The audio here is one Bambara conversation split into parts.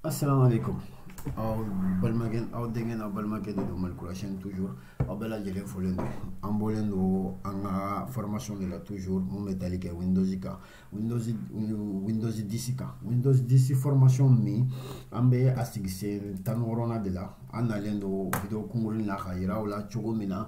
Assalamu alaikum. aw balimakɛ aw denkɛ n'aw balimakɛ de don malikurasiyɛn toujours aw bɛɛ lajɛlen folen don an bɔlen don an ka formation de la toujours mun bɛ tali kɛ windows kan windows 10 kan windows 10 formation min an bɛ a sigi sen tan ni wɔɔrɔnan de la an nalen don video kunkuruni na ka yira aw la cogo min na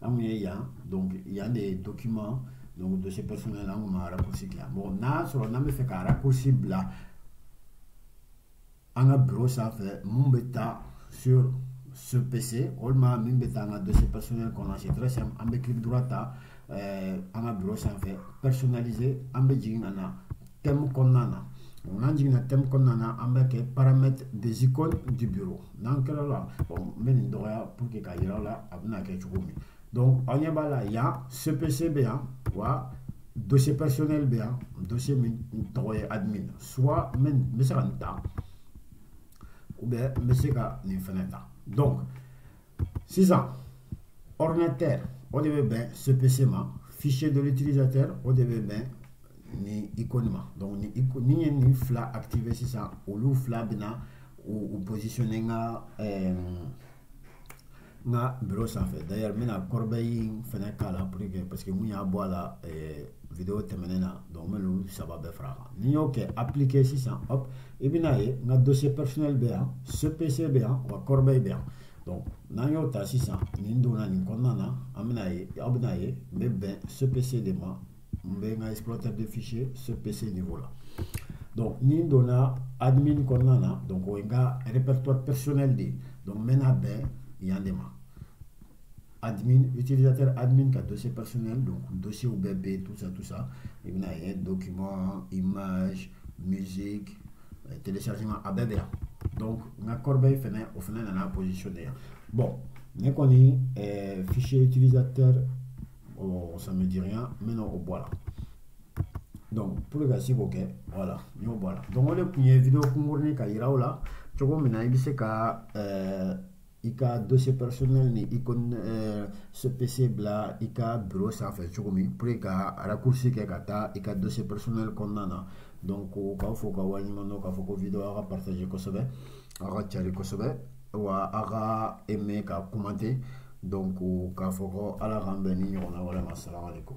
an ye yan donc yan de ye document donc dossier personnel an kun ma raccourci dilan bon n'a sɔrɔ n'an bɛ fɛ ka raccourci bila an ka bureau sanfɛ mun bɛ taa sur ce PC walima min bɛ taa an ka dossier personnel kɔnɔ c'est très simple an bɛ clic droit ta an ka bureau sanfɛ personnaliser an bɛ jigin ka na thème kɔnɔna na n'an jiginna thème kɔnɔna na an bɛ kɛ paramètres des icônes du bureau n'an kɛra o la n bɛ nin dɔgɔya pour que ka yira aw la a bɛna kɛ cogo min donc aw ɲɛ b'a la yan ce PC bɛ yan wa dossier personnel bɛ yan dossier min tɔgɔ ye admin soit n bɛ se ka nin ta ou bien n bɛ se ka nin fɛnɛ ta donc sisan ordinateur o de bɛ bɛn ce PC ma fichier de l'utilisateur o de bɛ bɛn nin icône ma donc n'i ye nin fila activer sisan olu fila bɛna u u positionner n ka ɛɛ n ka bureau sanfɛ d'ailleurs n bɛna corbeille in fɛnɛ k'a la pour que parce que n kun y'a bɔ a la ɛɛ video tɛmɛnen na donc n bɛ n'olu saba bɛɛ fara a kan n'i y'o kɛ appliquer sisan hop i bɛna ye n ka dossier personnel bɛ yan ce PC bɛ yan wa corbeille bɛ yan donc n'an y'o ta sisan ni n donna nin kɔnɔna na an bɛna ye aw bɛna ye n bɛ bɛn ce PC de ma n bɛ n ka explorateur de fichier ce PC niveau la donc ni n donna admin kɔnɔna na donc o ye n ka répertoire personnel de ye donc n bɛna bɛn yan de ma. admin utilisateur admin ka dossier personnel donc dossierw bɛɛ tout ça tout ça i bɛna ye document image musique euh, téléchargement a bɛɛ bɛ yan donc n ka corbeille fɛnɛ o fɛnɛ nana positionner yan bon ne kɔni euh, fichier utilisateur oh, ça me dit rien n bɛn'o bɔ a la donc pour ka se k'o kɛ voilà n y'o bɔ a la donc o de tun ye video kunkurunin ka yira aw la cogo min na i bɛ se ka ɛɛ euh, i ka dossier personnel ni icône eh, ce PC bila i ka bureau sanfɛ cogo min pour que ka raccourci kɛ ka taa i ka dossier personnel kɔnɔna na donc k'aw fo ka waleɲuman dɔn k'a fɔ ko video aw ka partager kosɛbɛ aw ka cari kosɛbɛ wa aw ka aimer ka commenter donc k'a fɔ ko ala k'an bɛn ni ɲɔgɔnna wɛrɛ ma assalamu alaikum